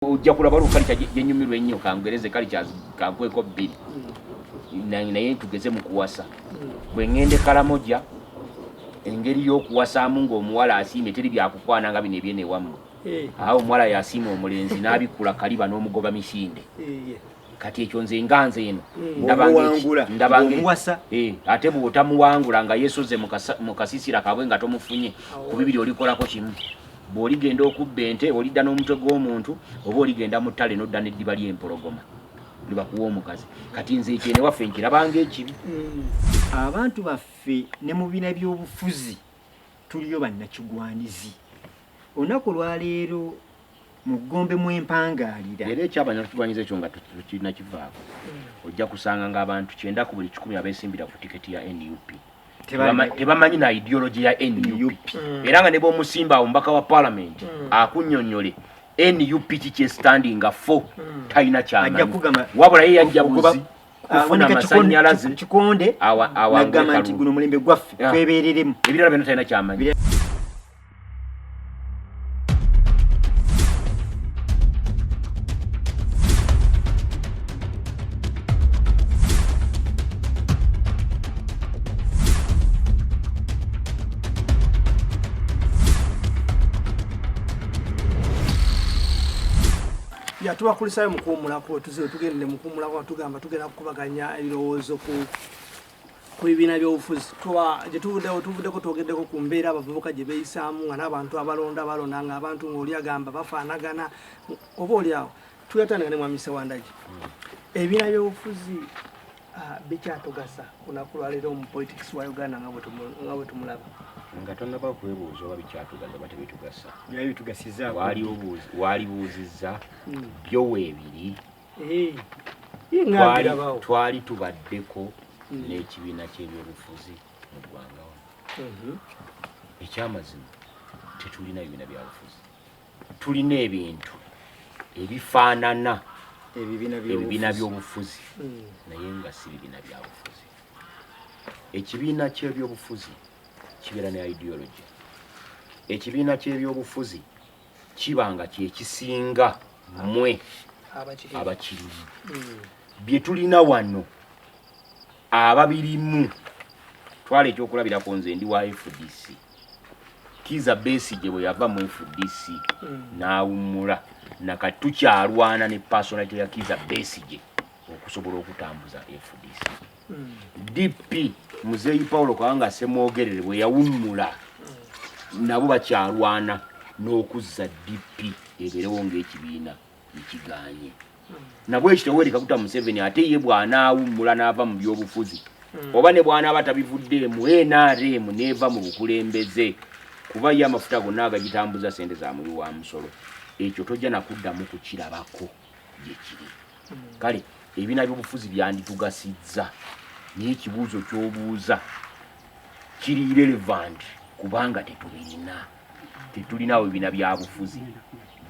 ojja kulaba olwo kalica gyenyumirwa ennyo kangereze kalica kankweko bbiri naye tugeze mu kuwasa bwe ŋŋende kalamoja engeri y'okuwasaamu ng'omuwala asiimye teri byakukwana nga bino ebyene wamu eh. awo omuwala yasiima omulenzi n'abikkula kaliba n'omugoba misinde eh, kati ekyo nze nga nze eno hmm. ndabangamuwasa eh, ate bwotamuwangula nga yesoze mu kasisira kabwe nga tomufunye ku bibiri olikolako kimu bwoligenda okubba ente olidda n'omutwe gw'omuntu oba oligenda mu ttale nodda n'eddiba ly'empologoma libakuwa omukazi kati nze ekyene waffe nkirabanga ekibi hmm. abantu baffe ne mu bina by'obufuzi Tuliyo bannakigwanizi olunaku olwaleero mu ggombe mwempangaalira era ekyabannakigwanyiza ekyo nga tukirina kivaako hmm. ojja kusanga ng'abantu kyenda ku buli kikumi abesimbira ku tiketi ya nup tebamanyi na ideology ya nup hmm. era nga ne bwomusimba awo mubaka wa palamenti hmm. akunyonyole nup kikyestandinga fo talina kyamanyi wabula ye yajja buzi kufuna amasanyalaze kikonde awagamba nti guno mulembe gwaffe twebereremu ebirala byona talina kyamanyi yatubakulisayo mukuwumulako wetuze wetugende mukuwumulako atugamba tugenda kukubaganya ebirowoozo ku ku bibiina byobufuzi gyetuvuddewo tuvuddeko twogeddeko ku mbeera abavubuka gye beeyisaamu nga n'abantu abalonda balonda nga abantu ngaoli agamba bafaanagana oba oliawo tuyatandika ne mwami sewandagi ebibiina byobufuzi Ah, bikyatugasa kunaku lwaleero mu politics wa uganda nga bwetumulaba nga tonaba kwebuuza oba bikyatugasa oba tebitugasa walibuuzizza hmm. byo weebiri eh, twali tubaddeko hmm. n'ekibiina ky'ebyobufuzi mu ggwanga wano mhm. ekyamazima tetulina bibiina byabufuzi tulina ebintu ebifaanana ebibiina by'obufuzi hmm. naye nga si bibiina byabufuzi ekibiina ky'ebyobufuzi kibeera ne ideology ekibiina ky'ebyobufuzi kiba nga kyekisinga mwe abakirimu hmm. bye tulina wano ababirimu twala ekyokulabirako nze ndi wa fdc Kiza Besigye bwe yava mu FDC hmm. n'awummula nakati tukyalwana ne personality ya Kiza Besigye okusobola okutambuza FDC. Hmm. DP Muzeeyi Paulo Kawanga Ssemwogerere bwe yawummula hmm. nabo bakyalwana n'okuzza DP ebeerewo ng'ekibiina. ekiganye nabwe ekyo tewereka kuta museveni ate ye bw'anaawummula n'ava mu by'obufuzi hmm. oba ne bw'anaaba tabivuddeemu nrm n'eva mu bukulembeze kuba ye amafuta gonna agagitambuza sente za muwi wa musolo ekyo tojja nakuddamu kukirabako gye kiri hmm. kale ebibiina by'obufuzi byanditugasizza naye ekibuuzo ky'obuuza kiri relevant kubanga tetubirina tetulinaawo ebibiina byabufuzi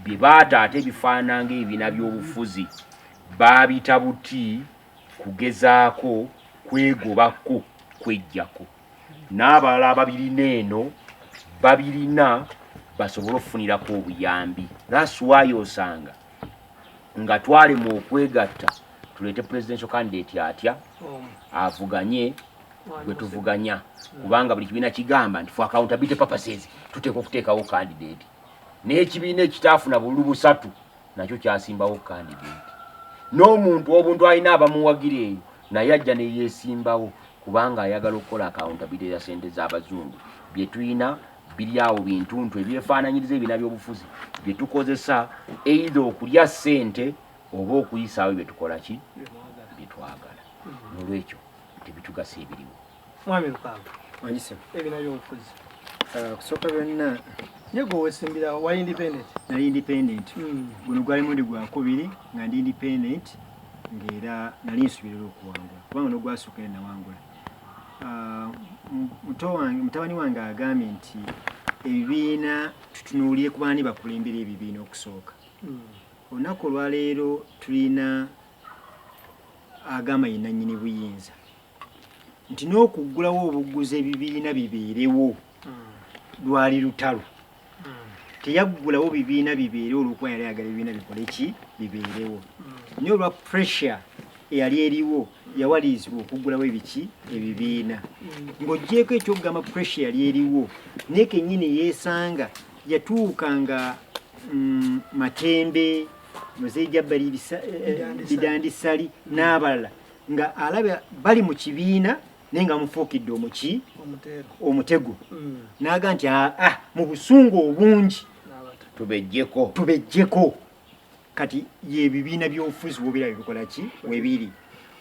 bye baata ate ebifaanana ng'ebibiina by'obufuzi baabita buti kugezaako kwegobako kwejjako n'abalala ababirina eno babirina basobole okufunirako obuyambi lasiwayo osanga nga twalemwa okwegatta tuleete presidential candidate atya avuganye gwe tuvuganya kubanga buli kibiina kigamba nti for accountability purposes tuteeka okuteekawo candidate n'ekibiina ekitaafuna bululu busatu nakyo kyasimbawo candidate n'omuntu obuntu alina abamuwagira eyo naye ajja neyesimbawo kubanga ayagala okukola accountability ya sente z'abazungu bye tulina biri awo bintuntu ebyefaananyiriza ebina byobufuzi bye tukozesa eitha okulya sente oba okuyisaawo bye tukola ki bye twagala nolwekyo tebitugasa ebiriwo mwami lukanga wanyisemu ebina byobufuzi ah, kusooka byonna nyego wesimbira wa independent nali independent hmm. guno gwali mundi gwakubiri nga ndi independent ngaera nali nsubirira okuwangula kubanga nogwasooka era nawangula ah, mutabani wange agambye nti ebibiina tutunuulire ku baani bakulembera ebibiina okusooka hmm. olunaku olwaleero tulina agamba ye nannyini buyinza nti n'okuggulawo obugguzi ebibiina bibeerewo hmm. lwali lutalo hmm. teyaggulawo bibiina bibeerewo olwokuba yali ayagala ebibiina bikole ki bibeerewo hmm. naye olwa pressure eyali eriwo yawalirizibwa okuggulawo ebiki ebibiina ng'oggyeeko ekyokugamba pressure yali eriwo naye kennyini yeesanga yatuuka nga mm, matembe muzee jabbali bidandisali n'abalala nga alaba bali mu kibiina naye nga mufuukidde omuki omutego mm. naaga nti aa ah, ah, mu busungu obungi tubejjeko tubejjeko kati yebibiina byobufuzi wobera bibikola ki webiri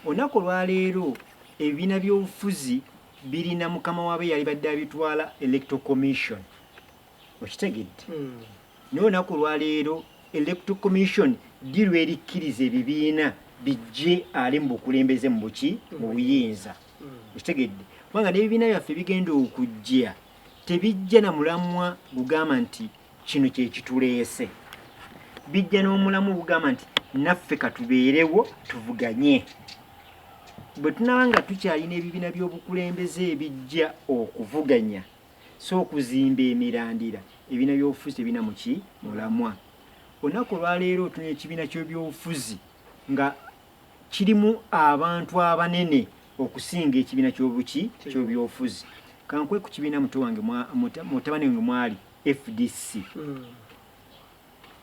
olunaku olwaleero ebibiina byobufuzi birina mukama waabe yali badde abitwala electoral commission okitegedde naye olunaku olwaleero electoral commission ddi lwerikkiriza ebibiina bijje ali mu bukulembeze mu buki mu buyinza okitegedde kubanga n'ebibiina byaffe bigenda okujja tebijja na mulamwa gugamba nti kino kyekituleese bijja n'omulamu ogugamba nti naffe katubeerewo tuvuganye bwe tunaba nga tukyalina ebibiina by'obukulembeze ebijja okuvuganya So okuzimba emirandira ebina byobufuzi tebina muki mulamwa. Onaku olwaleero otunya ekibiina ky'ebyobufuzi nga kirimu abantu abanene okusinga ekibiina ky'obuki ky'ebyobufuzi. Kankwe ku kibiina muto wange mutabani wange mwali FDC. Mm.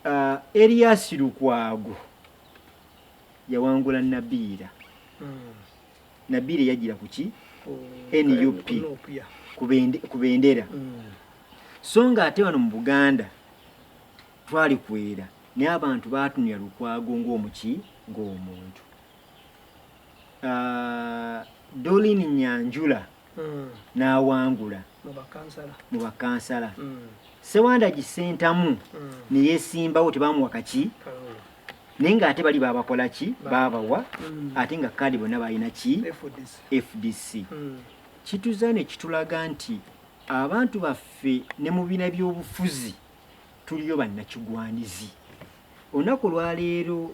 Uh, Elias Lukwago yawangula Nabiira. Mm. Nabire yajira kuki oh, NUP kubendera mm. so nga ate wano mu Buganda twali kwera naye abantu baatunuya Lukwago ng'omuki ng'omuntu uh, ah, Dolin Nyanjula mm. n'awangula mu bakansala mm. sewandagi sentamu mm. neyesimbawo tebamuwa kaki naye nga ate bali babakola ki babawa mm. ate nga kaadi bonna balina ki fdc mm. kituza ne kitulaga nti abantu baffe ne mu bina by'obufuzi tuliyo bannakigwanizi olunaku olwaleero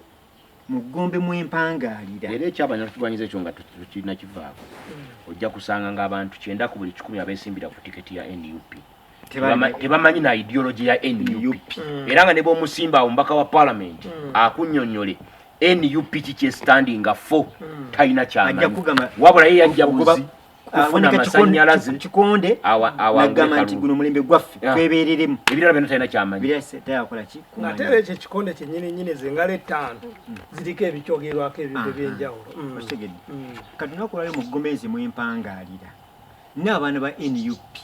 mu ggombe mwempangaalira era ekyabannakigwanyiza ekyo nga tukirina kivaako hmm. ojja kusanga ng'abantu kyenda ku buli kikumi abesimbira ku tiketi ya nup tebamanyi na ideology ya nup hmm. era nga ne bomusimba awo mubaka wa palamenti hmm. akunyonyole nup kikyestandinga fo talina kyamanyi wabula ye yajja kufuna amasanyalaze kikonde awagamba nti guno mulembe gwaffe twebereremu ebirala byona talina kyamanyiakolaki ate era ekyo ekikonde kyenyini nyini zengalo ettaano mm. ziriko ebikyogerwako ebintu ebyenjawulo mm. okitegedde mm. kati nakulale mu gomezi mwempangaalira nina abaana ba nup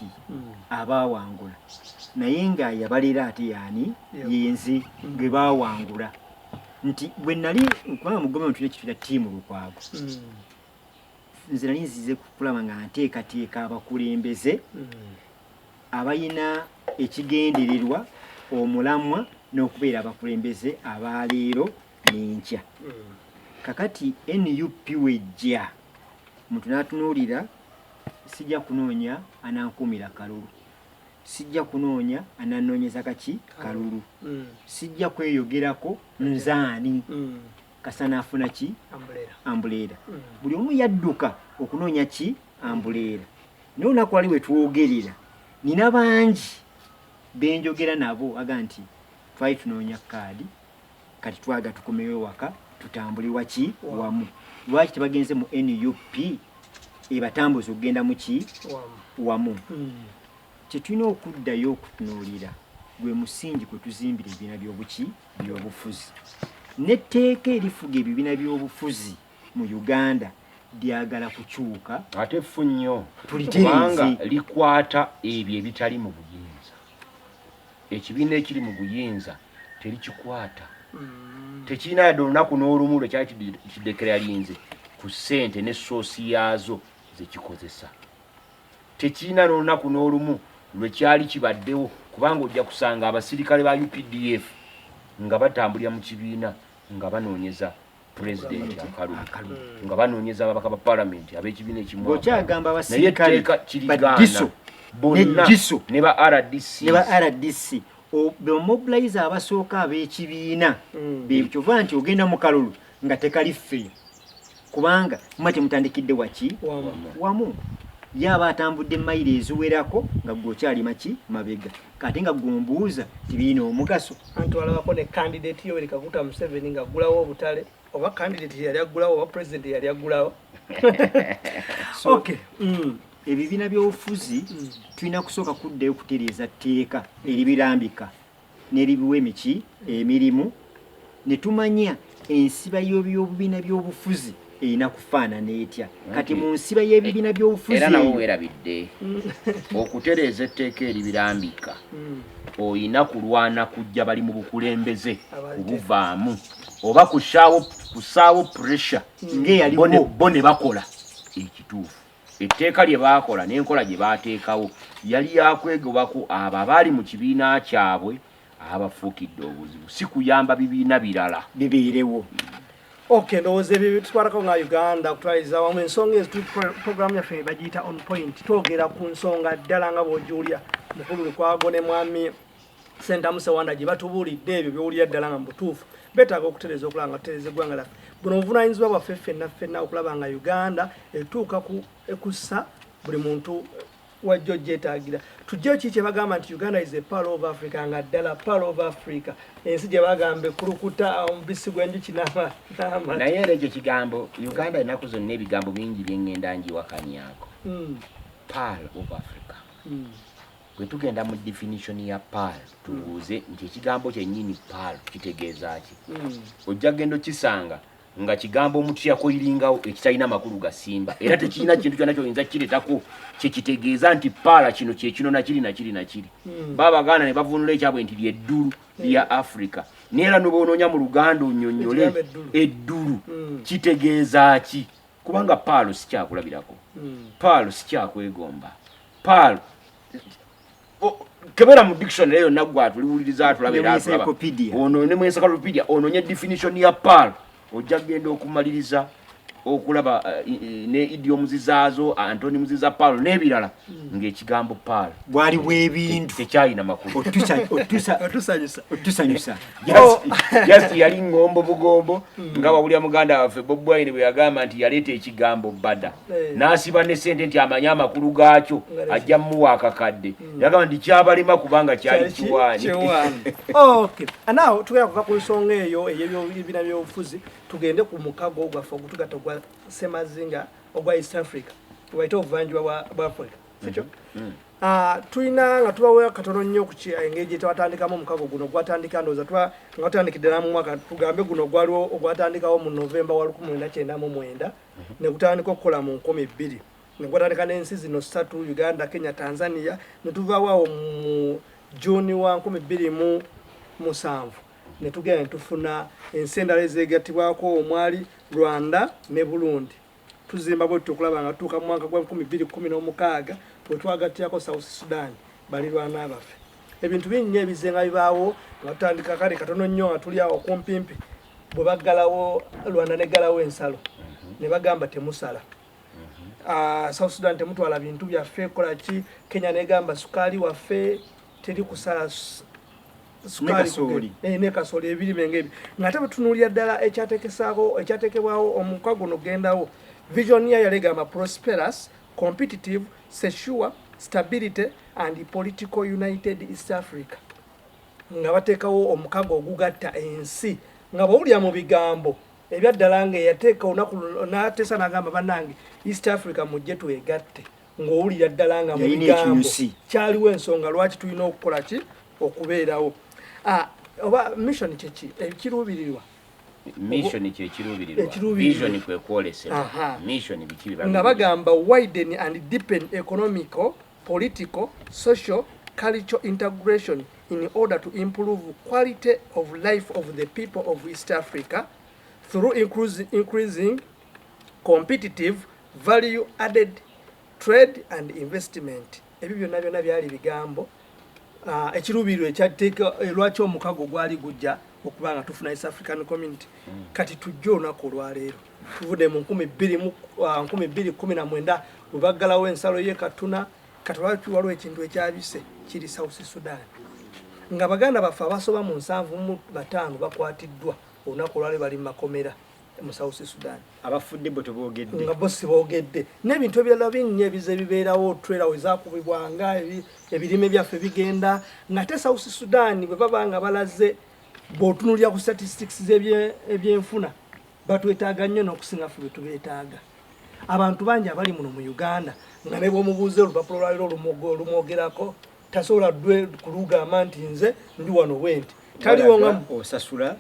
abawangula naye nga yabalera ate yaani yenzi gwe bawangula nti bwe nali kubanga mu gomezi tulina kitira tiimu lukwago nze nali nzize kulaba nga nteekateeka abakulembeze mm. abalina ekigendererwa omulamwa n'okubeera abakulembeze abaleero n'enkya mm. kakati nup wejja muntu n'atunuulira sijja kunoonya anankuumira kalulu sijja kunoonya ananoonyeza kaki kalulu mm. sijja kweyogerako nzaani mm. kasana afuna ki ambuleera mm. buli omu yadduka okunoonya ki ambuleera naye olunaku wali wetwogerera nina bangi benjogera nabo aga nti twali tunoonya kaadi kati twaga tukomewo ewaka tutambule waki wamu lwaki tebagenze mu nup ebatambuza okugenda muki wamu mm. kyetulina okuddayo okutunuulira gwe musingi kwetuzimbira ebibiina byobuki byobufuzi n'etteeka erifuga ebibiina by'obufuzi mu uganda lyagala kukyuka ate ffu nnyo kubanga likwata ebyo ebitali mu buyinza ekibiina ekiri mu buyinza terikikwata mm. tekirina yadde olunaku n'olumu lwe kyali kidekera linze ku ssente ne soosi yaazo zekikozesa Tekirina n'olunaku n'olumu lwe kyali kibaddewo kubanga ojja kusanga abasirikale ba updf nga batambulira mu kibiina nga banoonyeza pulezidenti akalubu nga banoonyeza ababaka ba palamenti ab'ekibiina ekimwanaye etteeka kirigaana bonna ne ba rdc bemobilize abasooka ab'ekibiina mm. bekyova nti ogenda mu kalulu nga tekali ffe kubanga muba temutandikidde waki wamu ye aba atambudde mayiro eziwerako nga gwe okyali maki mabega kati nga gwe ombuuza tibirina omugaso anti olabako ne kandidati yoweri kaguta museveni nga aggulawo obutale oba kandidati yali aggulawo oba pulezidenti yali aggulawo okay mm. ebibiina byobufuzi mm. tulina kusooka kuddayo okutereeza tteeka eribirambika n'ebibiwa emiki emirimu ne tumanya ensiba y'obubiina by'obufuzi erina kufaanana etya kati mu nsiba y'ebibiina eh, by'obufuzi era nawe weerabidde okutereeza etteeka eribirambika hmm. olina kulwana kujja bali mu bukulembeze kubuvaamu oba kusaawo pressure hmm. ng'eyalibo ne bakola ekituufu Etteeka lye baakola n'enkola gye baateekawo yali ya kwegobako abo abaali mu kibiina kyabwe abafuukidde obuzibu, si kuyamba bibiina birala bibeerewo. Okay, ndowooza ebyo byetutwalako nga Uganda okutwaliza wamu ensonga ezo program yaffe bagiyita on point twogera ku nsonga ddala nga bwogiwulira mukulu Lukwago ne mwami Sentamu Sewanda gye batubuulidde ebyo byowulira ddala nga mubutuufu betaaga okutereza okulaba nga tutereza eggwanga laffe buno obuvunanyizibwa bwaffe ffenna ffenna okulaba nga uganda etuuka ku ekussa buli muntu wajjo gyetagira tujje ki kyebagamba nti uganda is a pal of africa nga ddala pal of africa ensi gyebagamba ekulukuta omubisi gwenjuki naye era ekyo kigambo uganda enaku zonna ebigambo bingi byengenda njiwakanyako hmm. pal of africa hmm. Bwe tugenda mu definition ya paal tubuuze nti ekigambo kyennyini paal kitegeeza ki? Hmm. Ojja kugenda okisanga nga kigambo omuntu kyeyakoyiringawo ekitalina makulu gasimba era tekirina kintu kyona kyoyinza kiretako kyekitegeeza nti paala kino kyekino nakiri nakiri nakiri hmm. ba baganda ne bavunula ekyabwe nti lyeddulu hmm. lya africa neera nobaonoonya mu luganda onyonyole eddulu kitegeeza ki kubanga paalo sikyakulabirako paalo sikyakwegomba Paul kebera mu dictionary eyo nagwa tuliwuliriza atulaba era atulaba ono ne mu encyclopedia ono nye definition ya Paul ojja genda okumaliriza okulaba eh, ne idiom zizaazo antoni muziza paul n'ebirala hmm. ng'ekigambo paul bwali bw'ebintu tekyalina makulu otusanyusa oh. just yali ngombo bugombo hmm. nga wawulira muganda waffe bobwaine bwe yagamba nti yaleeta ekigambo bada eh. n'asiba ne ssente nti amanye amakulu gaakyo ajja mumuwa akakadde hmm. yagamba nti kyabalema kubanga kyali kiwaani tugenda kuva ku nsonga eyo eyebina byobufuzi tugende ku mukago gwaffe ogutugatta ogwa semazinga ogwa east africa waite obuvanjuba bwa africa sikyo hmm. Hmm. Ah, tulina nga tubawo katono nnyo ku eh, engeri gyetwatandikamu omukago guno gwatandika ndooza nga watandikidde namumwaka tugambe guno gwaliwo ogwatandikawo mu novemba wa lukumi lwenda kyenda mu mwenda mhm. ne gutandika okukola mu nkumi bbiri ne gwatandika n'ensi zino ssatu uganda kenya tanzania ne tuvaawo awo mu juuni wa nkumi bbiri mu musanvu ne tugenda ne tufuna ensi endala ezeegattibwako omwali rwanda ne burundi tuzimba bwe tutyo okulaba nga tutuuka mu mwaka gwa nkumi bbiri kumi n'omukaaga bwe twagattiyako south sudan balirwana baffe ebintu binnya ebizenga bibaawo nga tutandika kale katono nnyo nga tuli awo kumpimpi bwe baggalawo rwanda neggalawo ensalo mhm. ne bagamba temusala uh, south sudan temutwala bintu byaffe kola ki kenya negamba sukaali waffe teri kusala sukaali eh, ne kasooli ebirime ngebyo ngate batunuulira ddala ekyatekesaako ekyatekebwawo omuka guno gendawo vision ya yalegamba prosperous competitive secure stability and political united east africa nga bateekawo omukago ogugatta ensi nga bwewulira mu bigambo ebyaddala nga eyateeka olunaku nateesa nagamba banange east africa mujje twegatte ng'owulira ddala nga mu bigambo kyaliwo ensonga lwaki tulina okukola ki okubeerawo ah, oba mission kyeki ekiruubirirwa mission kyekiruubirirwa vision kwekwolesera mission biki nga bagamba widen and deepen economical political, social, cultural integration in order to improve quality of life of the people of East Africa through increasing competitive value added trade and investment ebyo byonna byonna byali bigambo ah, ekiruubirirwa ekyateeka eh, lwaki omukago gwali gujja okuba nga tufuna east african community mm. kati tujja olunaku olwaleero Tuvude mu nkumi bbiri mu uh, nkumi bbiri kumi na mwenda bwe baggalawo ensalo ye Katuna kati lwaki waliwo ekintu ekyabise kiri South Sudan nga baganda baffe abasoba mu nsanvu mu bataano bakwatiddwa olunaku olwali bali mu makomera mu South Sudan abafudde bo teboogedde nga bo siboogedde n'ebintu ebirala bingi ebize bibeerawo twera we zakubibwanga ebirime byaffe bigenda ngate South Sudan bwe baba nga balaze bw'otunulira ku statistics z'ebyenfuna batwetaaga nnyo n'okusinga ffe betubeetaaga abantu bangi abali muno mu uganda nga ne bwomubuuza olupapula lwaliro olumwogerako tasobola dwe kulugamba nti nze ndi wano bwenti osasula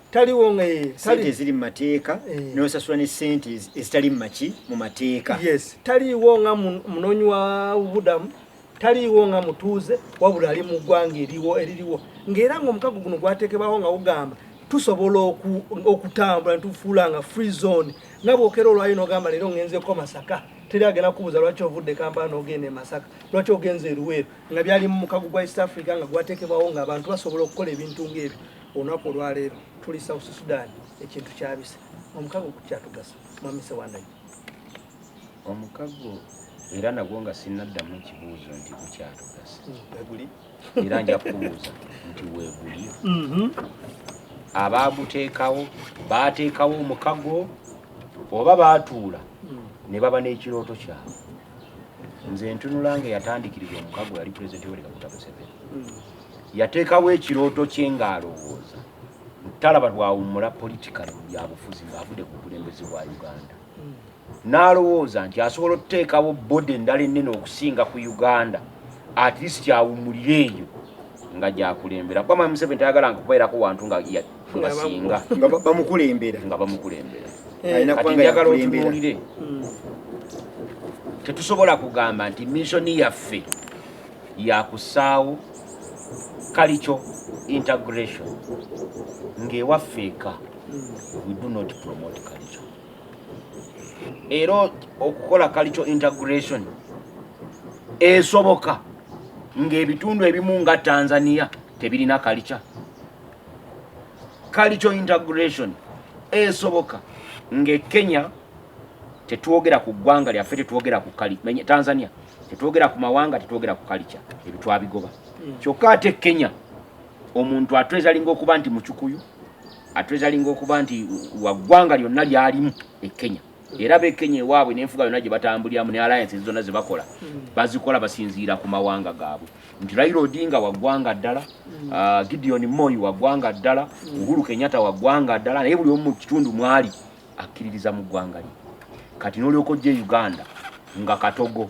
eh, sente eziri mu mateeka eh. nosasula ne sente ezitali mumaki mu mateeka taliiwo nga munoonyi wa bubudamu taliiwo nga mutuuze wabula ali mu ggwanga eriwo eririwo ng'era ng'omukago guno gwateekebwawo nga gugamba tusobola okutambula netufuula nga free zone nga bwokera olwayo nogamba leero ngenzeko masaka teri agenda kubuuza lwaki ovudde kampala nogenda emasaka lwaki ogenza eruweero nga byali mu mukago gwa east africa nga gwateekebwawo nga abantu basobola okukola ebintu ngaebyo olunaku olwaleero tuli south sudan ekintu kyabisa omukago kukyatugasa mwami sewandayi Omukago era nagwo nga sinnaddamu ekibuuzo nti gukyatugasa mm. era nja kubuuza nti weeguli mm-hmm. abaaguteekawo baateekawo omukago oba baatuula mm. ne baba n'ekirooto kyabwe nze ntunula nga yatandikiriza omukago yali pulezidenti yoweri kaguta museveni mm. yateekawo ekirooto kye ng'alowooza talaba lwawummula politikale mu byabufuzi ng'avudde ku bukulembeze bwa uganda n'alowooza nti asobola okuteekawo bodi endala ennene okusinga ku uganda at least awumulire eyo nga gyakulembera kuba mwami museveni tayagala nga kubeerako wantu nga basinga nga bamukulembera nga bamukulembera eh. kati njagala otunuulire hmm. tetusobola kugamba nti missoni yaffe yakusaawo kalikyo integration ng'ewaffe eka hmm. we do not promote kalikyo era okukola cultural integration esoboka ng'ebitundu ebimu nga tanzania tebirina kalica kalico integration esoboka nge kenya tetwogera ku ggwanga lyaffe tetwogera ku kali tanzania tetwogera ku mawanga tetwogera ku kalica ebyo twabigoba hmm. kyokka ate kenya omuntu atwezalinga okuba nti mucukuyu atreasuringa okuba nti waggwanga lyonna lyalimu e kenya era be kenya ewaabwe n'enfuga yonna gye batambuliramu ne alliance zonna ze bakola mm. bazikola basinziira ku mawanga gaabwe nti raila odinga waggwanga ddala mm. ah, gideon moyi waggwanga ddala mm. uhuru kenyatta waggwanga ddala naye buli omu mu kitundu mwali akkiririza mu ggwanga lye kati n'olyoka ojja e uganda nga katogo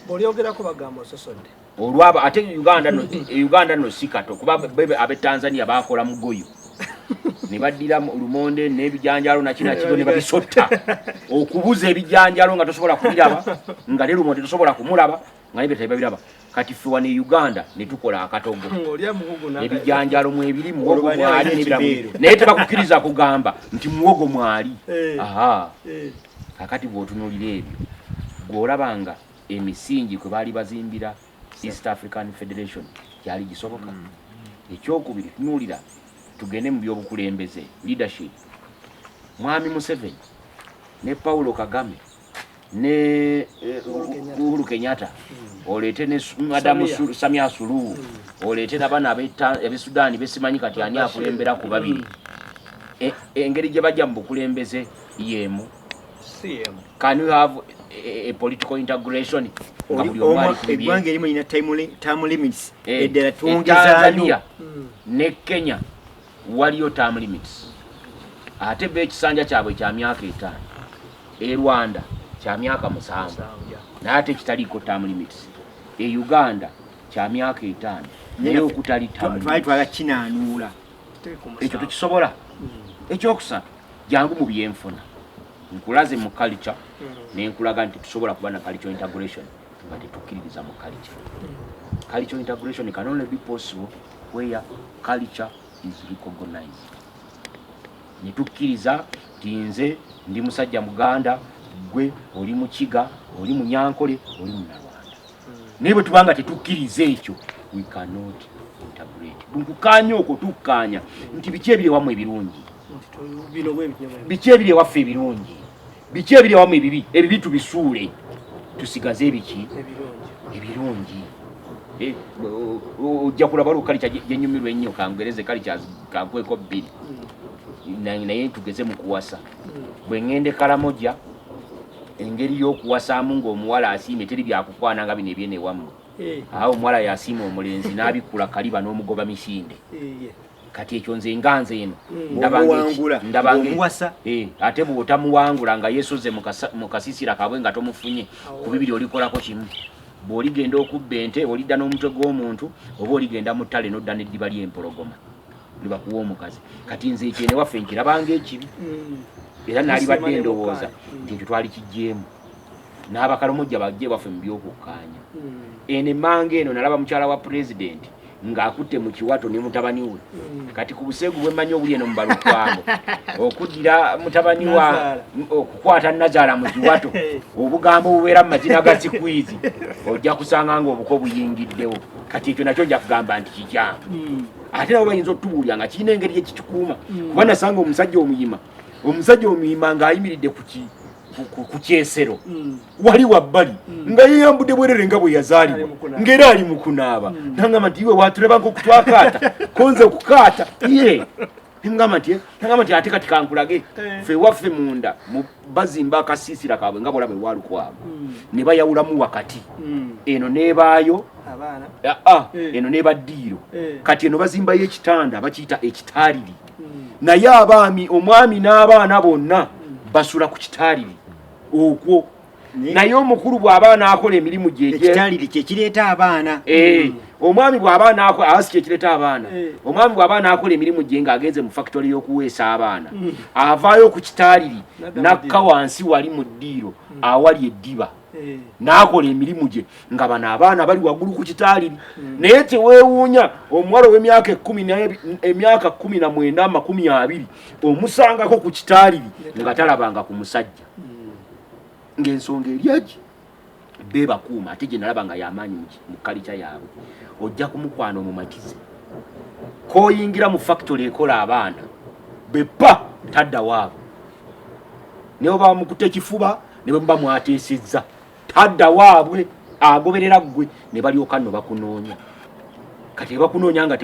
olyogerako bagamba ososodde olwaba ate uganda no e uganda no sikato kuba bebe abe tanzania bakola mugoyo ne badira lumonde ne bijanjalo na kina kigo ne babisotta okubuza ebijanjalo nga tosobola kubiraba nga le lumonde tosobola kumulaba nga ne betabe biraba kati ffe wano e uganda ne tukola akatogo ebijanjalo mu ebiri muwogo mwali nebiramu naye tebakukiriza kugamba nti muwogo mwali eh. aha eh. kakati bwotunulira ebyo gweolabanga emisingi kwe baali bazimbira East African Federation gyali gisoboka. Mm. Ekyokubiri, tunuulira tugende mu byobukulembeze leadership. Mwami Museveni ne Paulo Kagame ne eh, Uhuru Kenyatta mm. oleete ne Madamu Samia Suluhu mm. oleete nabana abe Sudan besimanyi kati ani akulembera ku babiri e, engeri gye bajja mu bukulembeze y'emu Can you have a, a political integration? Eggwanga erimu lina term limits eh, eddala eh, twongezaayo hmm. ne Kenya waliyo term limits ate be ekisanja kyabwe kya myaka etaano e Rwanda kya myaka musanvu naye ate kitaliiko term limits e Uganda kya myaka etaano naye okutali term limits twali twala kinaanuula ekyo tukisobola hmm. ekyokusatu jangu mu byenfuna nkulaze mu culture mm. nenkulaga nti tusobola kuba na culture integration nga tetukkiririza mu culture mm. culture integration can only be possible where culture is recognized netukkiriza nti nze ndi musajja muganda gwe oli mukiga oli munyankole oli munalwanda naye bwe tuba nga tetukkiriza ekyo we cannot integrate nkukaanya okwo tukkaanya nti biki ebiri ewamu ebirungi biki ebiri ewaffe ebirungi biki ebiri ewamu ebibi ebibi tubisuule tusigaze ebiki ebirungi eh, ojja kulaba olwo kalica gyenyumirwa ennyo kangereze kalica kankweko bbiri hmm. naye tugeze mu kuwasa bwe ŋŋenda e karamoja engeri y'okuwasaamu ng'omuwala asiimye teri byakukwana nga bino ebyene ewammwe eh. awo omuwala yasiima omulenzi n'abikkula kaliba n'omugoba misinde eh, kati ekyo nze nga nze eno ndabangaomuwasa eh, ate bw'otamuwangula nga yesoze mu kasisira kabwe nga tomufunye ku bibiri olikolako kimu bw'oligenda okubba ente olidda n'omutwe gw'omuntu oba oligenda mu ttale n'odda n'eddiba ly'empologoma nebakuwa omukazi kati nze ekyo newaffe nkirabanga ekibi mm. era nalibadde endowooza mm. nti ekyo twali kijeemu n'abakalomojja bajje baffe mu byokukkaanya mm. eno emmanga eno nalaba mukyala wa pulezidenti ng'akutte mu kiwato ne mutabani we kati ku buseegu bwe mmanyi obuli eno mu balukwamu okuddira mutabani wa okukwata nazaala mu kiwato obugambo obubeera mu mazina ga sikwizi ojja kusanga ng'obuko buyingiddewo kati ekyo nakyo nja kugamba nti kikyamu ate nabo bayinza otutubuulira nga kirina engeri ekikikuuma mm. kuba nasanga omusajja omuyima omusajja omuyima ng'ayimiridde kuki ku kyesero mm. wali wabbali mm. nga yeyambudde bwerere nga bwe yazaalibwa ng'era ali mu kunaaba nangamba nti iwe waatulabanga okutwakaata konze okukaata ye Ngamba nti ngamba nti ate kati kankulage eh. ffe waffe munda bazimba akasiisira kaabwe nga bwolaba ewalukwago hmm. ne bayawulamu wakati hmm. eno nebaayo ah, ah, eh. eno neba ddiiro eh. kati eno bazimbayo ekitanda bakiyita ekitaaliri hmm. naye abaami omwami n'abaana bonna basula ku kitaaliri okwo naye omukulu bw'aba anaakola emirimu gye ekitaliri kye kireeta abaana eh, omwami bw'aba anaakola awasi kye kireeta abaana eh. omwami bw'aba anaakola emirimu gye ng'agenze mu fakitole y'okuweesa abaana mm. avaayo ku kitaliri n'akka wansi wali mu ddiiro mm. awali eddiba eh. n'akola emirimu gye nga bano abaana bali waggulu ku kitaliri mm. naye teweewuunya omuwala ow'emyaka ekumi emyaka kkumi na mwenda amakumi abiri omusangako ku kitaliri nga talabanga ku musajja ng'ensonga eryagi beebakuuma ate gye nalaba nga yamaanyi mu kalica yaabwe ojja kumukwana omumatize koyingira mu fakitole ekola abaana bepa tadda waabo naye oba bamukuta ekifuba ne bwe muba mwateesezza tadda waabwe agoberera ggwe ne balyoka nno bakunoonya kati ebakunoonya nga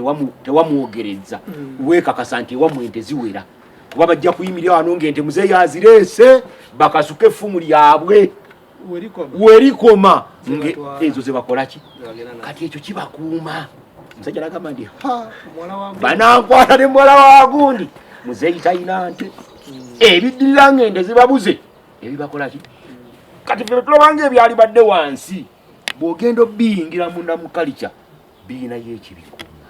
tewamwogerezza mm. weekakasa nti ewamwe nte ziwera kuba bajja kuyimirira wano ng'ente muzeeyi azireese bakasuke effumu lyabwe werikoma ezo zebakolaki kati ekyo kibakuuma musajja nagamba nti banankwata ne muwala wagundi muzeeyi talina nte hmm. ebiddirira ng'ente zibabuze ebibakolaki kati fe tulabanga ebyalibadde wansi bwogenda obiyingira munda mukalica biyinayo ekibikuuma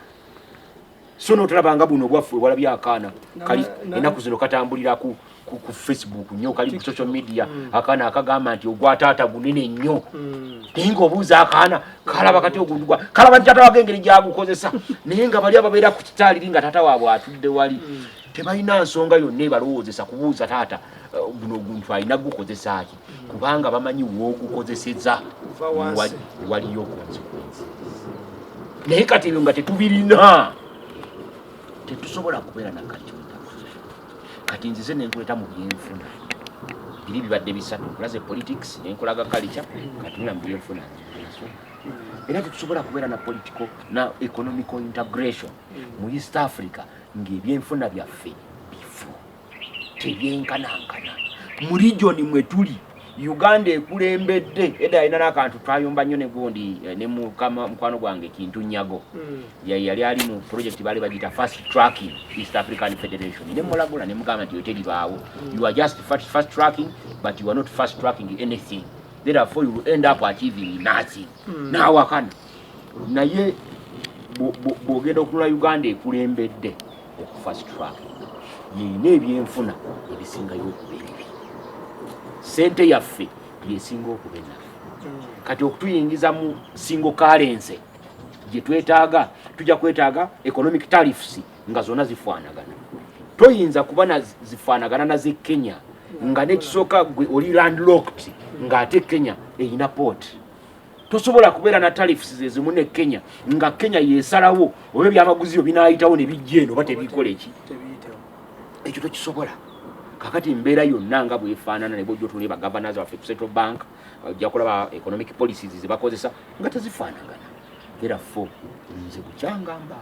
so notolabanga buno bwaffe walabye akaana kali enaku zino katambulira ku ku facebook nyo kali ku social media mm. akaana akagamba nti ogwa taata gunene nnyo mm. naye nga obuuza akaana kalaba kati ogundugwa kalaba nti taata wage engeri gyagukozesa naye nga bali ababeera ku kitaaliri nga taata waabwe atudde wali mm. tebalina nsonga yonna ebalowoozesa kubuuza taata eh, guno oguntu alina gukozesa ki kubanga bamanyi wogukozeseza waliyo consequence naye kati ebyo nga tetubirina tetusobola kubeera nakati kati nzize nenkuleta mu byenfuna biri bibadde bisatu nkulaze politics nenkulaga kalica katunula mu byenfuna era tetusobola kubeera na political na economical integration mu east africa ngaebyenfuna byaffe teyenkanankana mu regioni mwe tuli uganda ekulembedde eda alina nakantu twayomba nnyo negundi eh, ne mukama mukwano gwange kintu nyago hmm. yali ali mu project bali bagita fast tracking east african federation ne mulagula ne mugamba nti yoteribaawo hmm. you are just fast tracking but you are not fast tracking anything therefore you will end up achieving nothing hmm. nawakana naye bwogenda okunula uganda ekulembedde okufast track yeyina ebyenfuna ebisingayo okuba ebibi sente yaffe yesinga okuba enafu kati okutuyingiza mu singo kalense gyetwetaaga tujja kwetaaga economic tarifs nga zona zifaanagana toyinza kuba zifaanagana naze kenya nga nekisooka gwe oli landlocked ngaate kenya eyina port tosobola kubeera na tariffs zezimu ne kenya nga kenya yesalawo oba ebyamaguzi byo binayitawo ne bijja eno oba tebikola eki ekyo tokisobola kakati mbeera yonna nga bwefaanana ne bwojja otunula bagavanas baffe ku central bank ojja kulaba economic policies ze bakozesa nga tezifaanagana therefo nze bukyangamba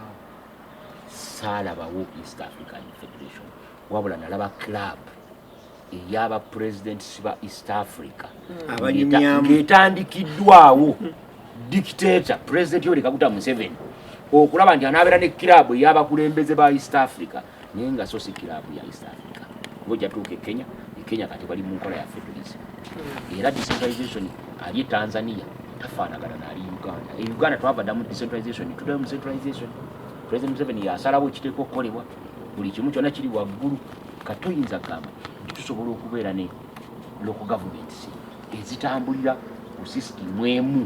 saalabawo east african federation wabula nalaba club eyaba presidents ba east africa hmm. ngetandikiddwawo dictator president yoweri kaguta museveni okulaba nti anabeera ne kirabu eyabakulembeze ba east africa naye nga so si kirabu ya east africa oba ojatuuka ekenya ekenya kati bali mu nkola ya federalism hmm. era decentralization ali e tanzania tafaanagana naali uganda e uganda twavadamu decentralization tudayo mu centralization president museveni yasalawo ekiteeka okukolebwa buli kimu kyona kiri waggulu katoyinza kugamba nti tusobola okubeera ne loko gavumenti ezitambulira ku sisitimu emu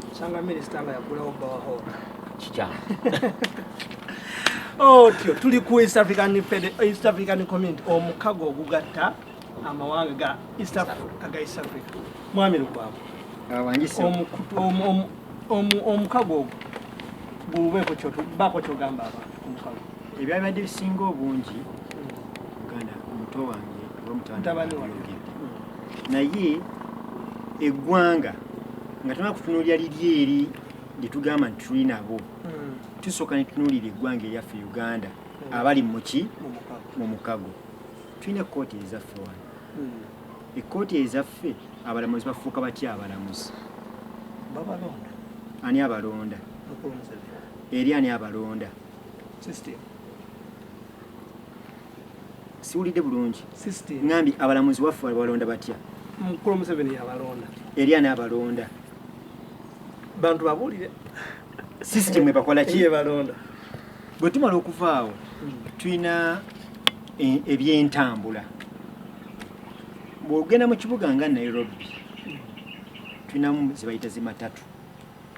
kikyamu otyo tuli ku east african east african community omukago ogugatta amawanga ga east africa ga east africa mwami lukwago omukago ogwo gubeeko kyogamba abantu ebyabadde bisinga obungi muganda omuto wange obamutabaniwayogedde naye eggwanga nga tuna kutunuulira liri eri lyetugamba nti tuli nabo hmm. tusooka netunuulira eggwanga eryaffe uganda hmm. abali muki mu mukago tulina ekkooti ezaffe wano hmm. ekkooti ezaffe abalamuzi bafuuka batya abalamuzi ani abalonda eri ani abalonda system siwulidde bulungi system ngambi abalamuzi waffe balonda batya mukulu museveni yabalonda eri ani abalonda bantu babuulire system ebakola ki ebalonda bwe tumala okuvaawo hmm. tulina e, ebyentambula bwogenda mu kibuga nga nairobi hmm. tulinamu zebayita zimatatu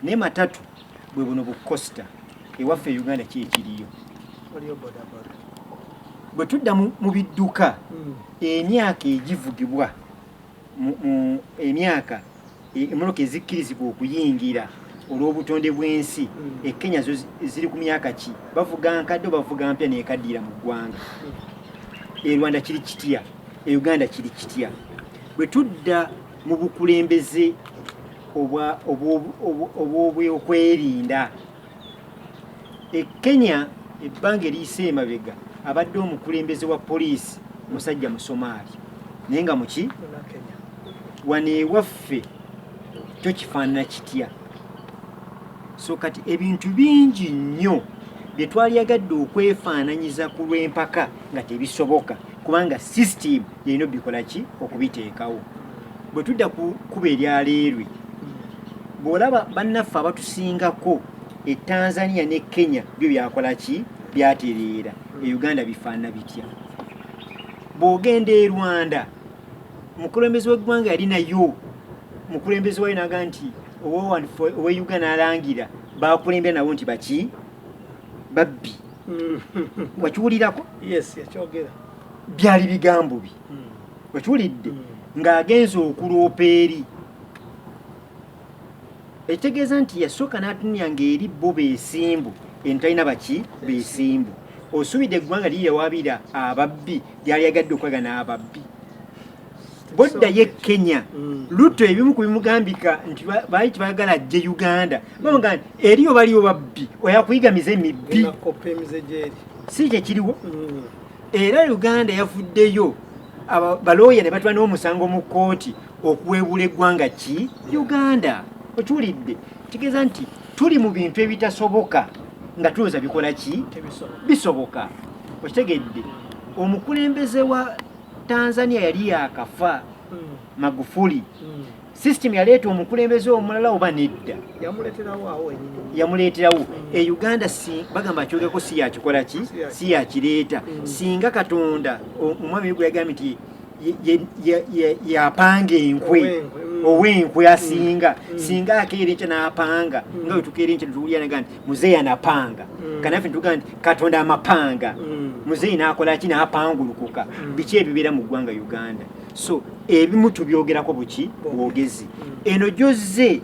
naye matatu bwe buno bu costa ewaffe e uganda ki ekiriyo bwe tudda mu bidduka hmm. emyaka egivugibwa emyaka e, emmotoka ezikkirizibwa okuyingira olw'obutonde bw'ensi hmm. e kenya zo ziri ku myaka ki bavuga nkadde obavuga mpya nekaddiira mu ggwanga hmm. e rwanda kiri kitya e uganda kiri kitya bwe tudda mu bukulembeze obw'obwokwerinda e Kenya ebbanga eriyise emabega abadde omukulembeze wa poliisi musajja musomaali naye nga muki wano ewaffe kyo kifaanana kitya so kati ebintu bingi nnyo bye twalyagadde okwefaananyiza ku lw'empaka nga tebisoboka kubanga system yeyino bikola ki okubiteekawo bwe tudda ku kuba eryaleerwe bw'olaba bannaffe abatusingako e tanzania ne kenya byo byakola ki byatereera e uganda bifaana bitya bw'ogenda e rwanda omukulembezi w'eggwanga yali nayo omukulembezi wayo naga nti owe uganda alangira bakulembera nabo nti baki babbi mm. wakiwulirako byali bigambo bi mm. wakiwulidde mm. ng'agenza okuloopa eri ekitegeeza nti yasooka n'atunira ng'eri bo beesimbu eno talina baki beesimbu osuubidde eggwanga liyawabira ababbi lyali yagadde okwaga n'ababbi bwoddayo e kenya mm. luto ebimu ku bimugambika nti baali tibagala ajje uganda bamuga nti eriyo baliyo babbi oyakuyiga mize mibbi si kyekiriwo mm. era uganda yavuddeyo balooya ne batula n'omusango mu kkooti okuweebula eggwanga ki uganda okiwulidde kitegeeza nti tuli mu bintu ebitasoboka nga tulowooza bikola ki bisoboka okitegedde omukulembeze wa Tanzania yali yakafa hmm. Magufuli hmm. system yaleeta omukulembeze omulala oba nedda yamuleeterawo hmm. e Uganda si bagamba kyogeko si yakikola ki si yakireeta singa Katonda omwami gwe yagambye nti yapanga enkwe ow'enkwe asinga singa akeera enkya n'apanga nga wetukeera enkya netuwulira naga nti muzeeyi anapanga mm. kanaffe nituga nti katonda amapanga mm. muzeeyi nakola ki napangulukuka mm. biki ebibeera mu ggwanga uganda so ebimu tubyogerako buki bwogezi mm. eno gyozze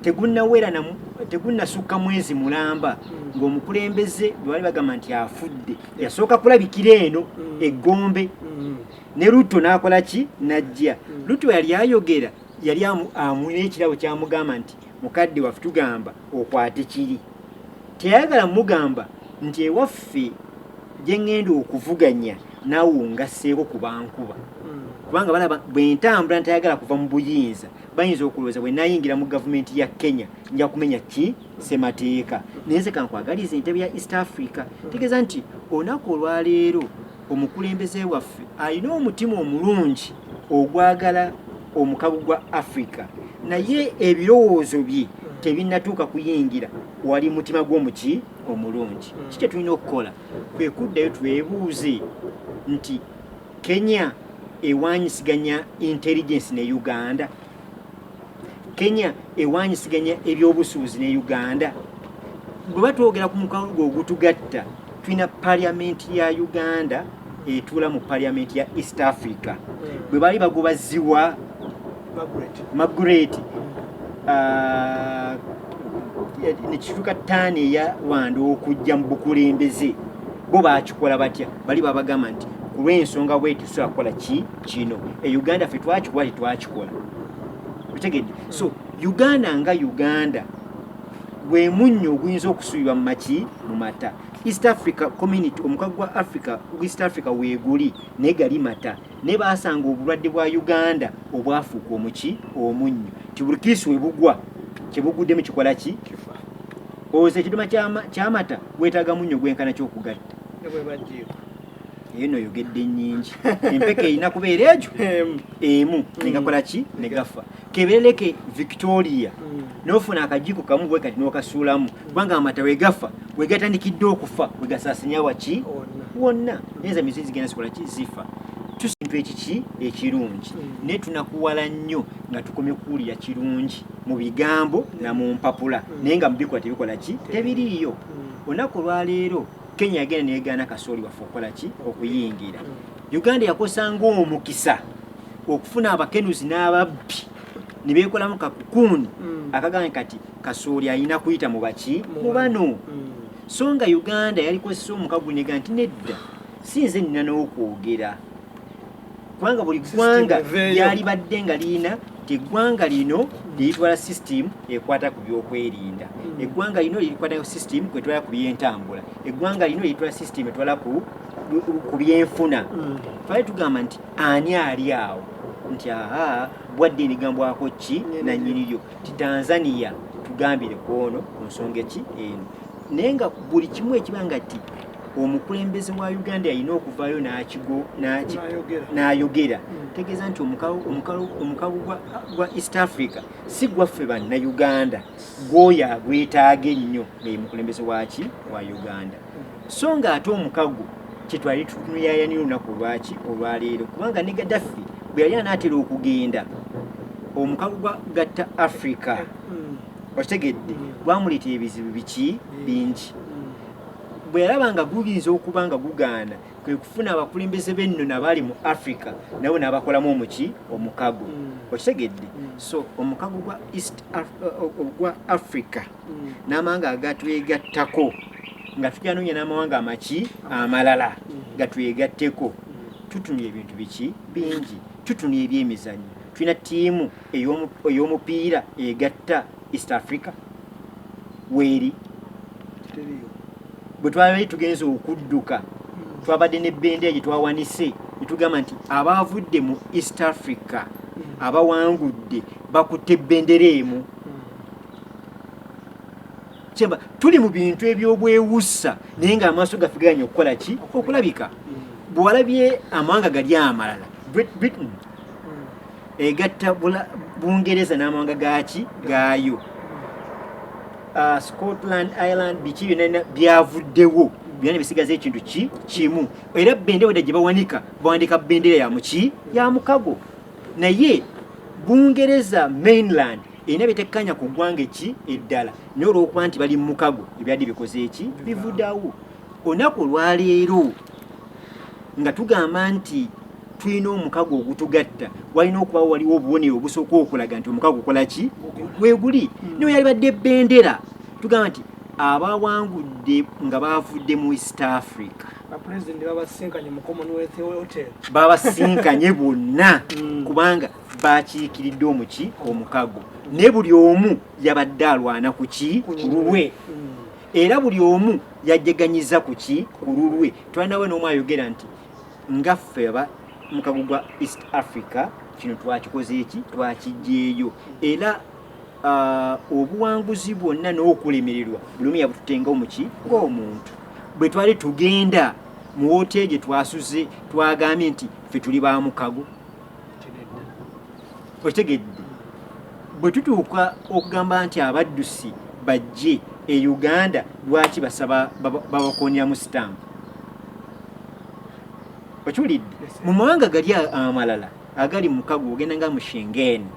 tegunawera namu tegunasukka mwezi mulamba mm. ng'omukulembeze bwebali bagamba nti afudde yasooka kulabikira eno mm. eggombe mm. ne luto nakola ki najja mm. luto yali ayogera yali amulina ekirabo kyamugamba nti mukadde waffe tugamba okwate kiri teyayagala mugamba nti ewaffe gye ŋŋenda okuvuganya naawe ongasseeko ku bankuba hmm. kubanga balaba bwe ntambula ntayagala kuva mu buyinza bayinza okulowooza bwe nayingira mu gavumenti ya kenya nja kumenya ki ssemateeka naye nze kankwagaliza entebe ya east africa tegeeza nti olunaku olwaleero Omukulembeze waffe alina omutima omulungi ogwagala omukago gwa Africa naye ebirowoozo bye tebinnatuuka kuyingira wali mutima gw'omuki omulungi hmm. ki kyetulina okukola kwe kuddayo twebuuze nti kenya ewanyisiganya intelligence ne uganda kenya ewanyisiganya ebyobusuubuzi ne uganda bweba twogera ku mukalu gwe ogutugatta tulina paliamenti ya uganda etuula mu paliamenti ya east africa hmm. bwe baali bagoba ziwa magret uh, nekituuka taani eya rwanda okujja mu bukulembeze bo bakikola batya bali babagamba nti kulwensonga bwetusobola kukola ki kino e uganda fe twakikuwa tetwakikola otegedde so uganda nga uganda gwe munnyo oguyinza okusuubirwa mu maki mu mata east africa community omukago gwa africa east africa weeguli naye gali mata naye baasanga obulwadde bwa uganda obwafuuka omuki omunnyo ti buli kiisi we bugwa kye buguddemu kikola ki owoza ekiduma kyamata gwetaaga munnyo gwenkana kyokugatta eno oyogedde nyingi empeke erina kubeera egyo emu negakola ki negafa kebereleke victoria mm. nofuna akajiko kamu bwe kati nokasuulamu kubanga amata wegafa wegatandikidde okufa wegasasinya waki wonna neza mizi zigenda zikola ki zifa tusintu ekiki ekirungi mm. naye tunakuwala nnyo nga tukomye kuwulira kirungi mu bigambo na mu mpapula mm. naye nga mubikola tebikola ki tebiriiyo olunaku olwaleero Kenya yagenda neyegaana kasooli waffe okukola ki okuyingira Uganda yakosa ng'omukisa okufuna abakenuzi n'ababbi ne beekolamu kakukuuni mm. akagambye kati kasooli alina kuyita mu baki mu bano mm. so nga Uganda yalikozesa omukagunega nti nedda si nze nnina n'okwogera kubanga buli ggwanga lyalibadde nga lirina nti eggwanga lino liritwala system ekwata ku byokwerinda hmm. eggwanga lino lirikwata system kwetwala ku byentambula eggwanga lino liritwala system etwala ku ku byenfuna hmm. twali tugamba nti ani ali awo nti aha bwadde enigambwako ki nanyiniyo ti tanzania tugambire kwono ku nsonga eki eno naye nga buli kimu ekiba nga ti omukulembeze wa uganda yalina okuvaayo n'ayogera hmm. tegeeza nti omukago gwa east africa si gwaffe bannauganda gwoyo agwetaaga ennyo naye mukulembeze waki wa uganda hmm. so nga ate omukago kyetwali tunuyayanira olunaku olwaki olwaleero kubanga ne gadaffi bwe yali anaatera okugenda omukago gwa gatta africa hmm. okitegedde gwamuleetera ebizibu biki bingi bwe yalaba nga guyinza okuba nga gugaana kwe kufuna abakulembeze b'enno nabaali mu africa nabo n'abakolamu omuki omukago hmm. okitegedde hmm. so omukago gwa east ogwa africa hmm. n'amawanga agatwegattako nga tujanoonya n'amawanga amaki amalala gatwegatteko tutunula ebintu biki bingi tutunula ebyemizanyo tulina ttiimu ey'omupiira egatta east africa weeri bwe twabadde tugenze okudduka hmm. twabadde ne bendera gye twawanise ne tugamba nti abaavudde mu east africa hmm. abawangudde bakutte bendera emu kyemba tuli mu bintu ebyobwewussa naye nga amaaso gaffe gaganya okukola ki okulabika bwewalabye amawanga gali amalala britain egatta bungereza n'amawanga gaaki gaayo uh, scotland ireland biki byonna byavuddewo byona bisigaza ekintu ki kimu era bendera weda gye bawanika bawanika bendera ya muki ya mukago naye bungereza mainland erina byetekkanya ku ggwanga eki eddala naye olwokuba nti bali mu mukago ebyadde bikoze eki bivudawo Olunaku olwaleero nga tugamba nti tulina omukago ogutugatta walina okuba waliwo obubonero obusooka okulaga nti omukago gukola ki weguli hmm. niwe yalibadde bendera tugamba nti abawangudde nga bavudde mu east africa babasinkanye bonna hmm. kubanga bakiikiridde omuki omukago ne buli omu yabadde alwana kuki kululwe hmm. era buli omu yajeganyiza ku ki ku lulwe twanawe n'omu ayogera nti ngaffe aba mukago gwa east africa kino twakikoze eki twakijjeeyo era uh, obuwanguzi bwonna n'okulemererwa buli omu yabututenga omuki ng'omuntu bwe twali tugenda mu woteeri gye twasuze twagambye nti ffe tuli ba mukago okitegedde bwe tutuuka okugamba nti abaddusi bajje e uganda lwaki basaba babakonyamu sitampu okiwulidde mu mawanga gali amalala agali mukago ogenda nga mushengeni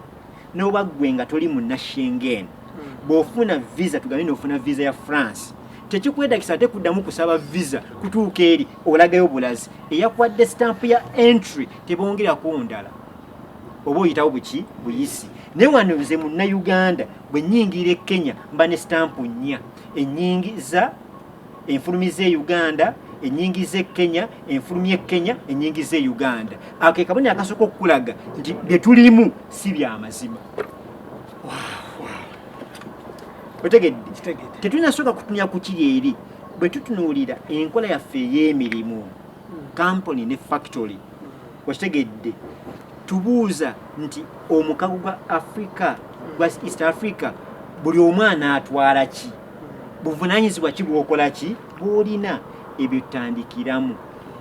noba gwe nga toli muna shengeni hmm. bwofuna visa tugambe nofuna visa ya france tekikwetagisa ate kuddamu kusaba visa kutuuka eri olagayo bulazi eyakwadde sitampu ya entry tebongera kundala oba oyitawo buki buyisi naye wano nze munnayuganda bwe nyingiira e kenya mba ne sitampu nnya enyingiza enfulumiza e uganda enyingiza e kenya enfulumi e kenya enyingiza e uganda ako ekaboni akasooka okukulaga nti bye tulimu si byamazima otegedde tetulinasooka kutunya ku kiri eri bwe tutunuulira enkola yaffe ey'emirimu kampuni ne factory wakitegedde tubuuza nti omukago gwa africa gwa east africa buli omu anaatwala ki buvunanyizibwa ki bwokola ki bwolina ebyo tutandikiramu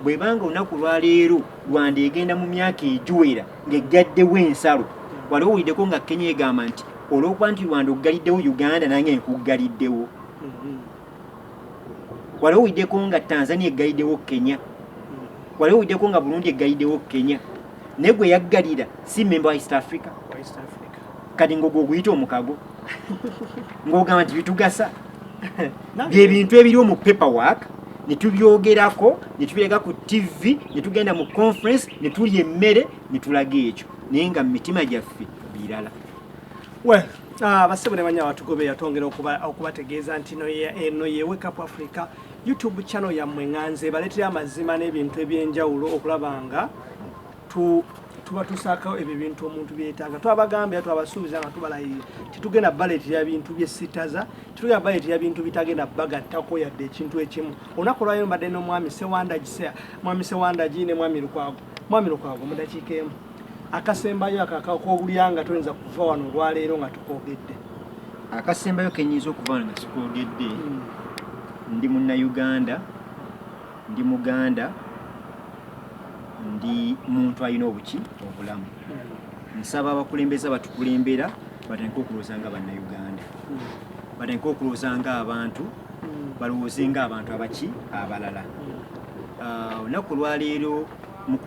bwebanga olunaku lwaleero rwanda egenda mu myaka egiwera ngaeggaddewo ensalo wali owulideko nga kenya egamba nti olwokuba nti rwanda oggaliddewo uganda nange nkuggaliddewo mm-hmm. waliwo widdeko nga tanzania eggayidewo kenya waliwo widdeko nga burundi eggayidewo kenya naye gwe yaggalira si memba wa east africa kati ngaogwo oguyita omukago ngaogamba nti bitugasa byebintu ebiriwo mu paper work netubyogerako netubirega ku tv netugenda mu conference netulya emmere netulaga ekyo naye nga mu mitima gyaffe birala Ah, basebo ne banyabo tugobe yatongera okuba okubategeeza nti no ye eno ye wake up Africa YouTube channel ya mwenganze baletera amazima n'ebintu ebyenjawulo okulabanga tu tuba tusaka ebyo bintu omuntu byetanga twabagambye twabasuubiza nga tubalaye titugenda baleti ya bintu bye sitaza titugenda baleti ya bintu bitagenda baga tako yadde ekintu ekimu onako lwayo mbadde no mwami sewanda jisea mwami sewanda jine mwami lukwago Mwami Lukwago, mu dakiika emu akasembayo akakak'obulyanga toyinza kuva wano olwaleero nga tukoogedde. Akasembayo kenyinza okuva wano nga sikoogedde hmm. ndi munnayuganda, ndi muganda, ndi muntu alina obuki obulamu. Hmm. Nsaba abakulembeze abatukulembera batandike okulowooza nga bannayuganda, hmm. batandike okulowooza nga abantu, balowooze nga abantu abaki abalala. Ah, olunaku olwaleero mu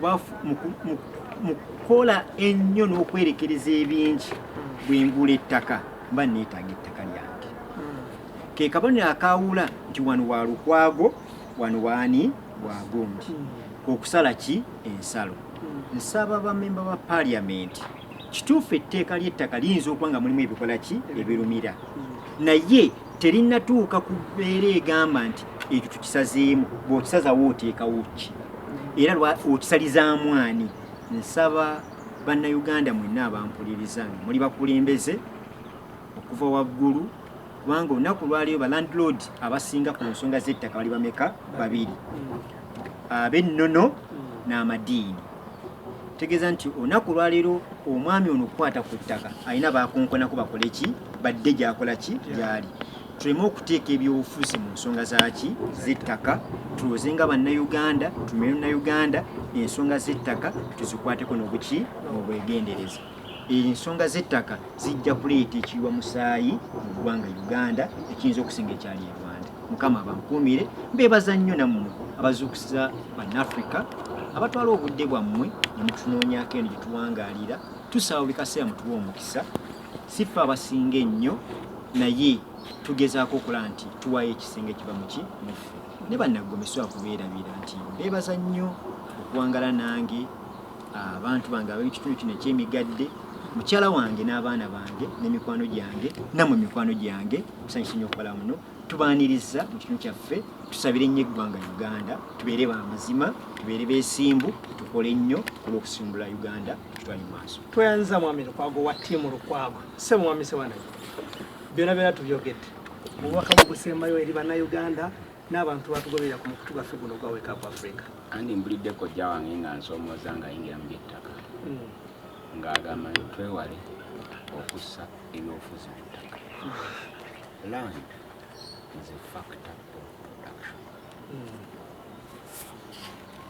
kukola ennyo n'okwerekereza ebingi bwengula ettaka mba neetaaga ettaka lyange hmm. ke kabonero akaawula nti wano wa lukwago wano waani wagundi hmm. okusala ki ensalo hmm. nsaba bamemba ba paliamenti Kituufu etteeka ly'ettaka liyinza okuba nga mulimu ebikola ki ebirumira, naye terinatuuka ku mbeera egamba nti ekyo tukisazeemu. Bw'okisazawo oteekawo ki era okisalizaamu ani? Nsaba Bannayuganda mwenna abampuliriza nga muli bakulembeze okuva waggulu kubanga olunaku lwaliyo ba landlord abasinga ku nsonga z'ettaka bali bameka babiri ab'ennono n'amadiini tegeeza nti olunaku olwaleero omwami ono okukwata ku ttaka alina bakonkonako bakole ki badde gyakola ki gyali tuleme okuteeka ebyobufuzi mu nsonga zaki zettaka tuloze nga bannauganda tumire nauganda ensonga zettaka tuzikwateko nobuki obwegendereza ensonga z'ettaka zijja kuleeta ekiyiwa musaayi mu ggwanga uganda ekiyinza okusinga ekyali e rwanda mukama abankuumire mbeebaza nnyo nammwe abazuukusiza bannafrika abatwala obudde bwammwe ne mutunoonyako eno gye tuwangaalira tusaba buli kaseera mutuwa omukisa sifa abasinga ennyo naye tugezaako okola nti tuwayo ekisenge kiba muki muffe ne bannaggomeso akubeerabira nti mbeebaza nnyo okuwangala nange abantu bange ab'ekitundu kino eky'emigadde mukyala wange n'abaana bange n'emikwano gyange namwe mikwano gyange musanyusa nnyo okukola muno tubaaniriza mu kitundu kyaffe tusabire nnyo eggwanga uganda tubeere ba mazima tubeere beesimbu tukole nnyo olw'okusimbula uganda tutwali maaso tweyanziza mwami lukwago wa tiimu lukwago se mwami sewanai byona byona tubyogedde obubaka bugusemayo eri bannayuganda n'abantu batugoberera ku mukutu gwaffe guno ogwa wake up africa andi mbulidde kojja wange nga nsomooza nga yingira mu byettaka hmm. ng'agamba nti twewale okussa ebyobufuzi mu ttaka hmm. land is a factor of production hmm.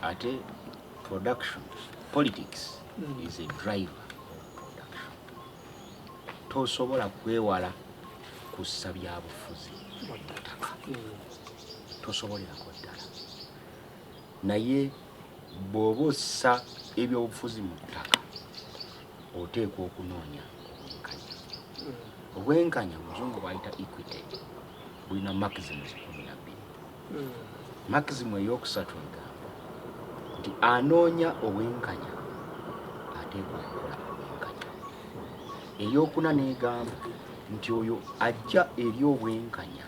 ate production politics is a driver of production tosobola kwewala kussa byabufuzi mu ttaka tosobolerako ddala naye bw'oba ossa ebyobufuzi mu ttaka oteekwa okunoonya obwenkanya obwenkanya muzungu bwayita equity bulina maximus kumi na bbiri maximu eyokusatu egamba nti anoonya obwenkanya ateekwa okukola obwenkanya eyokuna negamba nti oyo ajja eri obwenkanya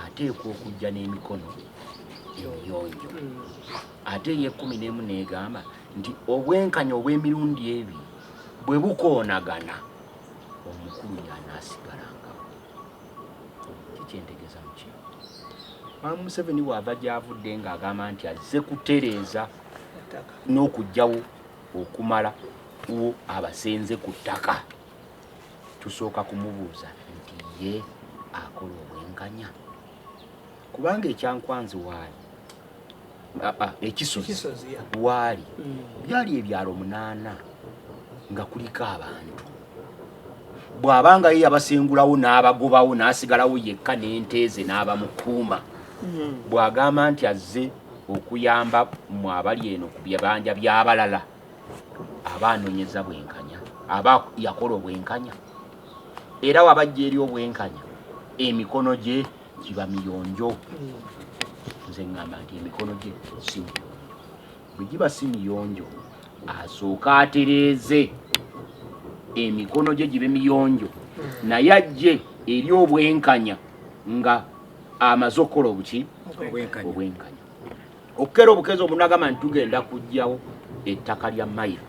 ateekwa okujja n'emikono emiyonjo ate eyekumi n'emu negamba nti obwenkanya obw'emirundi ebi bwe bukoonagana omukulu yanaasigala kikyentegeza muki maama museveni waava gyavudde nga agamba nti azze kutereeza n'okugyawo okumala wo abasenze ku ttaka tusooka kumubuuza nti ye akola obwenkanya kubanga ekyankwanzi waali ah, ah, ekisozi waali mm. byali ebyalo munaana nga kuliko abantu bw'abanga ye yabasengulawo n'abagobawo n'asigalawo yekka n'enteeze n'abamukuuma mm. bw'agamba nti azze okuyamba mu abali eno ku bibanja by'abalala aba anoonyeza bwenkanya aba yakola obwenkanya era wabajja eri obwenkanya emikono gye kiba miyonjo nze ŋŋamba nti emikono gye si miyonjo bwe giba si miyonjo asooka atereeze emikono gye gibe miyonjo naye ajje eri obwenkanya nga amaze okukola obuki obwenkanya okukera obukezi omunagamba nti tugenda kugyawo ettaka lya mayiro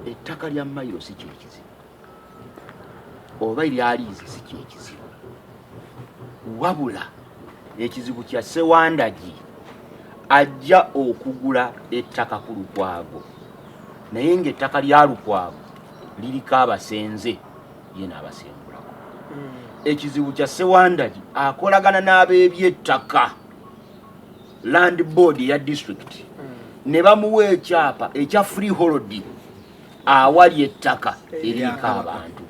ettaka lya mayiro si kyekizibu oba eryali nze si kyekizibu wabula ekizibu kya sewandagi ajja okugula ettaka ku lukwago naye ngaettaka lya lukwago liriko abasenze ye naabasengulako hmm. ekizibu kya sewandagi akolagana n'abeebyettaka land board ya district hmm. ne bamuwa ekyapa ekya free holiday awali ettaka eriko abantu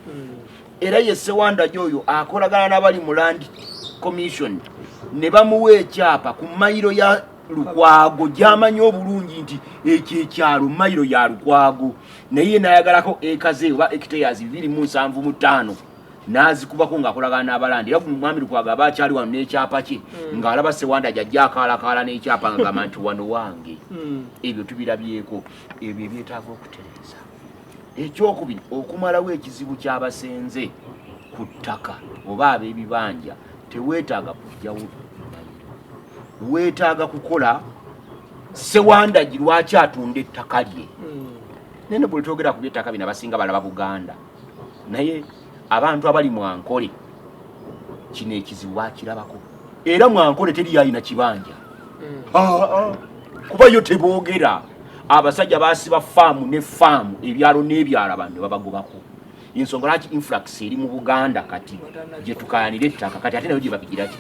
era ye sewandagi oyo akolagana n'abali mu land commission ne bamuwa ekyapa ku mayiro ya lukwago gyamanyi obulungi nti ekyo ekyalo mayiro ya lukwago naye nayagalako ekaze oba ekiteyas bibiri mu nsanvu mu ttaano nazikubako ngaakolagana n'abalandi era mwami lukwago aba akyali wano n'ekyapa kye hmm. ng'alaba sewanda gyajja akaalakaala n'ekyapa ngagamba nti wano wange hmm. ebyo tubirabyeko ebyo ebyetaaga okutereeza ekyokubiri okumalawo ekizibu kyabasenze ku ttaka oba ab'ebibanja teweetaaga kujjawo weetaaga kukola sewandagi lwaki atunda ettaka lye hmm. nene buli twogera ku byettaka bino abasinga balaba buganda naye abantu abali mwankole kino ekizibu bakirabako era mwankole teri yalina kibanja mm. ah, ah. kuba yo teboogera abasajja basiba faamu ne faamu ebyalo n'ebyalo abantu nebabagobako ensonga lwaki influx eri mu buganda kati gyetukayanira ettaka kati ate nayo gyebabigira ki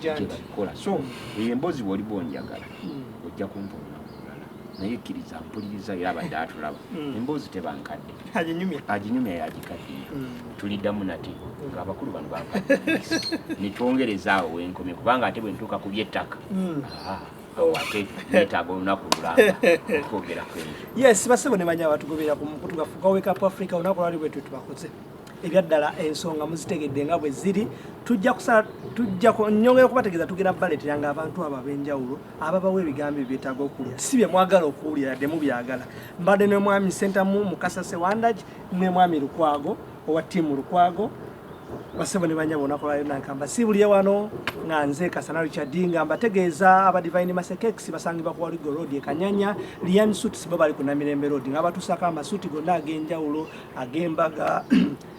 gyebabikola so eyo emboozi bwoliba onjagala hmm. ojja kumpona naye kkiriza mpuliriza era abadde atulaba mm. emboozi tebankadde aginyumya yagikaddiye mm. tuliddamu nate mm. nga abakulu bano bankaddeisa netwongereza awo wenkomye kubanga ate bwentuuka ku byettaka ah, awo ate netaaga olunaku lulamba okwogera kwenzo yes basebo ne banya batugobera ku mukutu gaffe gwa wake up africa olunaku lwali bwetwe tubakoze ebyaddala ensonga muzitegedde nga bwe ziri tujja kusa tujja nyongera okubategeeza tugenda baleetera nga abantu abo ab'enjawulo ababawo ebigambo ebyetaaga okuwulira si bye mwagala okuwulira yadde mubyagala mbadde ne mwami sentamu mukasa sewandagi ne mwami lukwago owa tiimu lukwago basebo ne banyabo nakolwayo nankamba si buliye wano nga nze kasana richard nga mbategeeza aba divine masekex basangibwa ku waligo road ekanyanya lian suits bo bali ku namirembe road nga batusako amasuuti gonna ag'enjawulo ag'embaga